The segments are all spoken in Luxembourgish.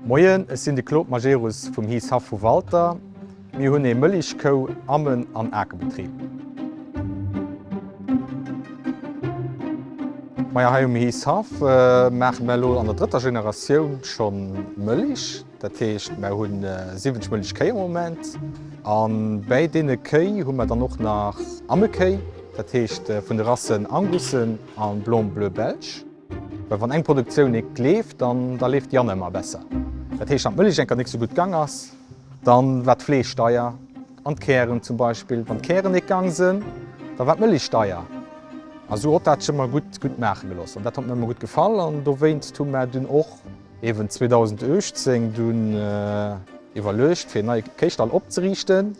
Moien, ech sinn de Claude Majerus vum Heath Haff vu Walter. Mir hunn ee Mëlich-, Kou-, Ammen an Akebetrib. Majo, hei um Heath Haff maache mer elo an der drëtter Generatioun scho Mëlich. Dat heescht, mer hu 70 mënnlech Kéi am Moment. A bäi deene Kéi hu mer dann och nach Ammelkéi, dat heescht vun de Rassen Angussen a Blanc Bleu Belge. Well wann eng Produktioun eek leeft, dann da leeft déi aner ëmmer besser. Dat heescht, wann d'Mëllech eng Kéier net esou gutt gang ass, da war d'Fleesch deier. An d'Kären zum Beispill, wann d'Kären eek gang sinn, da war d'Mëllech deier. A sou hott dat sech ëmmer gutt maache gelooss. An dat hott mer ëmmer gutt gefall an dowéinst hu mer dunn och. Ewen 2018 dun iwerluecht fir en neie Kéichstall opzeriichten,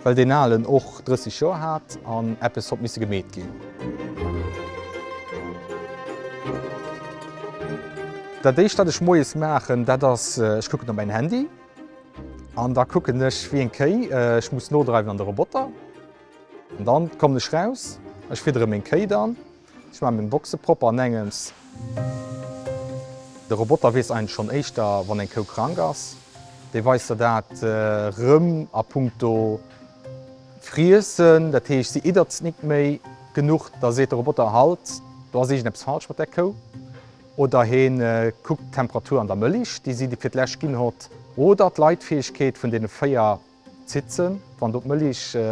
well deen aalen och 30 Joer haat an eppes hott missen gemeet ginn. Daat éischt daat ech moies maachen daat ass ech kucken op mäin Handy an da kucken ech wéi eng Kéi ech muss nodreiwen an de Roboter an dann kommen ech raus, ech fidderen meng Kéi dann. Ech maan meng Boxen propper an engems. De Roboter wees eigentlech schon éischter wann eng Kou krank ass. Dee weist der dat rem a punkto Friessen. Dat heescht se iddert nik méi genuch. Da seet de Roboter halt, do ass iergend eppes falsch mat där Kou. Oder heen kuckt d'Temperatur an der Mëlich déi si fir d'lescht gin hott. Oder d'Leitfähegkeet vun deene 4 Zitzen, wann do d'Mëlich e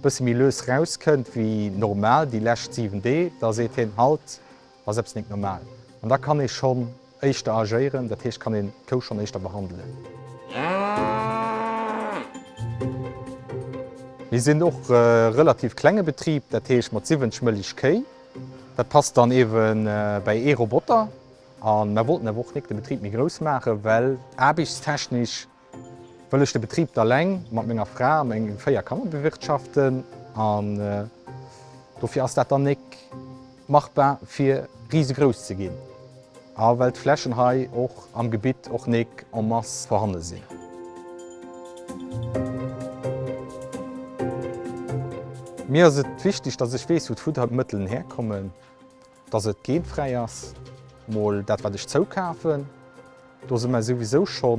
bësse méi lues rauskënnt wéi normal déi lescht 7 Dee, da seet hien, Halt, ass eppes net normal. An da kann ee schonn éischter agéieren, dat heescht, kann een d'Kou schonn éischter behandelen. Mir sinn och e relativ klenge Betrib, dat heescht mat 70 Mëlich Kéi. Dat passt dann ewe bäi ee Roboter. A mer wollten awer och nik de Betrib méi grouss maachen, well aarbechtstechnesch Wëll ech de Betrib da leng mat menger Fra a mengen 4 Kanner bewirtschaften an dofir ass dat da nek machbar fir risegrouss ze ginn a well d'Flächen hei och am Gebitt och nek en masse vorhanden sinn. Mir ass et wichteg dass ech weess wou d'Futtermëttelen herkommen Dass et geenfräi ass, mol dat wat ech zoukafen. Do si mer souwisou scho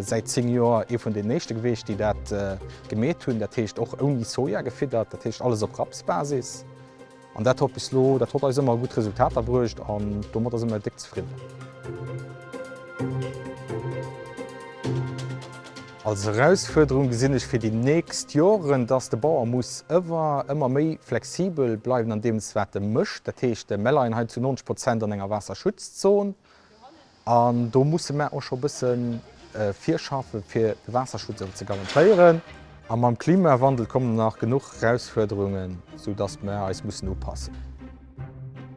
säit 10 Joer ee vun den éischte gewiescht, déi dat gemeet hunn, dat heescht och ouni Soja gefiddert, dat heescht alles op Rapsbasis. An dat hott bis elo, dat hott eis ëmmer gutt Resultater bruecht an domadder si mer déck zefridden. Als Erausfuerderung gesinn ech fir déi nächst Joren, dass de Bauer muss ëwer ëmmer méi flexibel bleiwen an deem wat e mécht. Dat heescht, mär leien hei zu 90 Prozent an enger Waasserschutzzon an do musse mär och scho bësse virschaffen, fir de Waasserschutz ëwer ze garantéieren. A mam Klimawandel kommen nach genuch Erausfuerderungen, soudass mär eis mussen upassen.